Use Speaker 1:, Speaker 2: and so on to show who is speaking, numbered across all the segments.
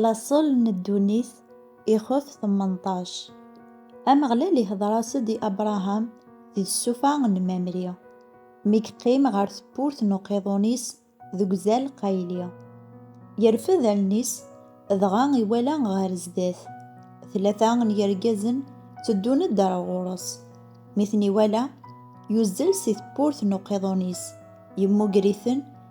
Speaker 1: Laṣel n ddunit ixef tmenṭac. Ameɣlal ihdeṛ-as-d i Abṛaham di tsufa n Mamri, mi yeqqim ɣer tewwurt n uqiḍun-is deg uzal Qayli. Yerfed allen-is dɣa iwala ɣer zdat, tlata n yergazen tteddun-d ar ɣur-s. Mi ten-iwala, yuzzel si tewwurt n uqiḍun-is, yemmugger-iten,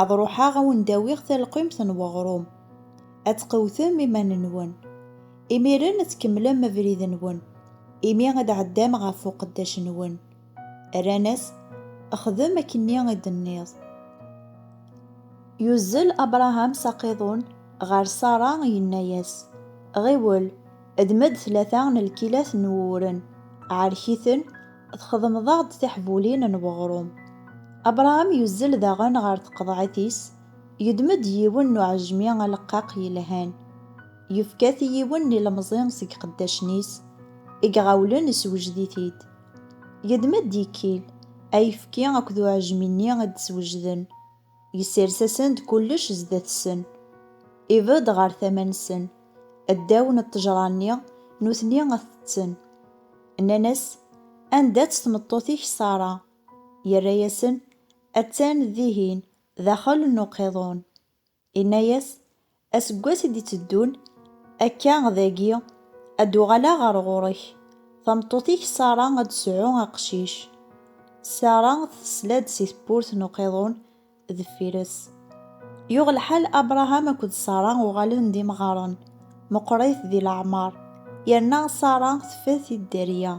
Speaker 1: Ad ruḥeɣ ad wen-d-awiɣ talqimt n weɣrum. Ad tqewtem iman-nwen. Imiren ad tkemmlem abrid-nwen, imi ad d-tɛeddam ɣef uqeddac-nwen. Rran-as, Xdem akken-nni i d-tenniḍ. Yuzzel Abṛaham s aqiḍun ɣer Ṣara, yenna-as, Ɣiwel, ddem-d tlata n lkilat n wuwren, ɛerk-iten, Txedmeḍ-aɣ-d tiḥbulin n weɣrum. Abṛaham yuzzel daɣen ɣer tqeḍɛit-is, yeddem-d yiwen n uɛejmi aleqqaq yelhan, yefka-t i yiwen n ilemẓi seg iqeddacen-is i iɣawlen, isewjed-it-id. Yeddem-d ikkil, ayefki akked uɛejmi-nni i d-swejden. Yessers-asen-d kullec zdat-sen. Ibedd ɣer tama-nsen, ddaw n ṭṭejra-nni, nutni ad t-tten. Nnan-as, Anda-tt tmeṭṭut-ik Ṣara? Yerra-yasen, Attan dihin, daxel n uqiḍun. Inna-yas, Aseggas i d-iteddun, akka dagi, ad d-uɣaleɣ ɣer ɣur-k. Tameṭṭut-ik Sara ad d-tesɛu aqcic. Sara tesla-d si tewwurt n uqiḍun deffir-s. Yuɣ lḥal Abṛaham akked Sara uɣalen d imɣaren, meqqṛit di leɛmeṛ, yerna Sara teffed-t-id dderya.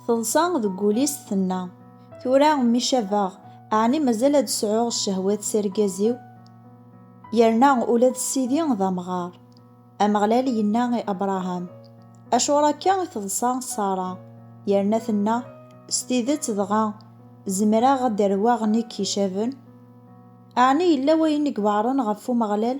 Speaker 1: Teḍsa deg wul-is tenna, Tura mi cabeɣ, ɛni mazal ad sɛuɣ ccehwat s argaz-iw? Yerna ula d Sidi d amɣar. Ameɣlal yenna i Abṛaham, Acuɣer akka i teḍsa Ṣara? Yerna tenna, S tidet dɣa, zemreɣ ad d-rrewaɣ nekk icaben? Ɛni yella wayen i iweɛṛen ɣef Umeɣlal?